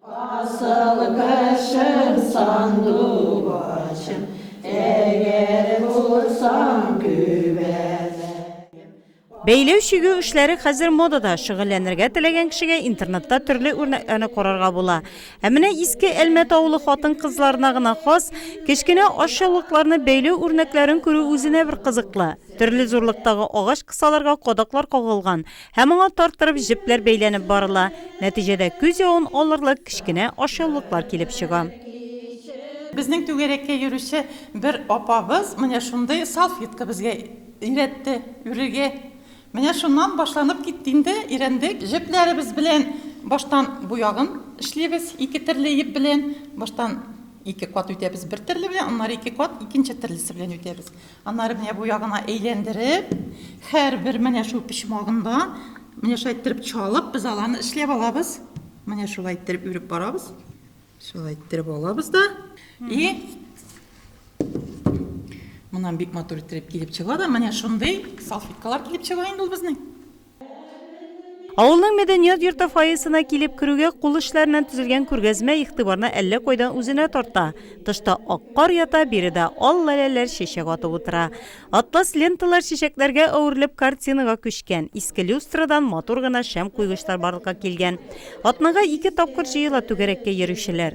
Асыл кешем, сандугачым, Әгәр булсаң күбәләкәем. Бәйләү-чигү эшләре хәзер модада, шөгыльләнергә теләгән кешегә интернетта төрле үрнәкләрне карарга була. Ә менә Иске Әлмәт авылы хатын-кызларына гына хас кечкенә ашъяулыкларны бәйләү үрнәкләрен күрү үзенә бер кызыклы. Төрле зурлыктагы агач кысаларга кадаклар кагылган. Һәм аңа тарттырып җепләр бәйләнеп барыла. Нәтиҗәдә күз явын алырлык кечкенә ашъяулыклар килеп чыга. Безнең түгәрәккә йөрүче бер апабыз менә шундый салфетка безгә өйрәтте үрергә. Менә шуннан башланып китте инде, өйрәндек. Җепләребез белән баштан бу ягын эшлибез, ике төрле еп белән. Баштан ике кат үтәбез бер төрле белән, аннары ике кат икенче төрлесе белән үтәбез. Аннары менә бу ягына әйләндереп, һәрбер менә шул почмагында менә шулай иттереп чалып, без аланы эшләп алабыз. Менә шулай иттереп үреп барабыз. Шулай иттереп алабыз да. И Моннан бик матур иттереп килеп чыга да, менә шундый салфеткалар килеп чыга инде ул безнең. Авылның мәдәният йорты фойесына килеп керүгә кул эшләреннән төзелгән күргәзмә игътибарны әллә кайдан үзенә тарта. Тышта ак кар ята, биредә ал лаләләр чәчәк атып утыра. Атлас ленталар чәчәкләргә әверелеп картинага күчкән. Иске люстрадан матур гына шәм куйгычлар барлыкка килгән. Атнага ике тапкыр җыела түгәрәккә йөрүчеләр.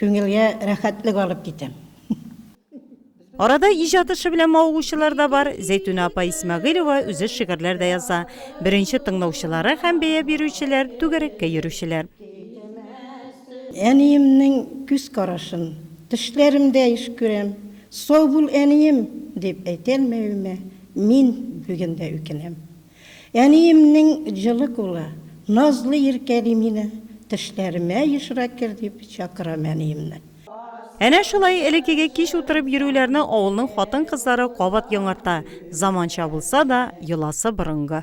Күңелгә рәхәтлек алып китәм. Арада иҗат эше белән мавыгучылар да бар. Зәйтүнә апа Исмәгыйлева үзе шигырьләр дә яза. Беренче тыңлаучылары һәм бәя бирүчеләр, түгәрәккә йөрүчеләр. Әниемнең күз карашын төшләремдә еш күрәм. Сау бул, әнием! дип әйтә алмавыма мин бүген дә үкенәм. Әниемнең җылы кулы, назлы иркәли мине, Төшләремә ешрак кер дип чакырам әниемне. Әнә шулай элеккеге кич утырып йөрүләрне авылның хатын-кызлары кабат яңарта, заманча булса да, йоласы борынгы.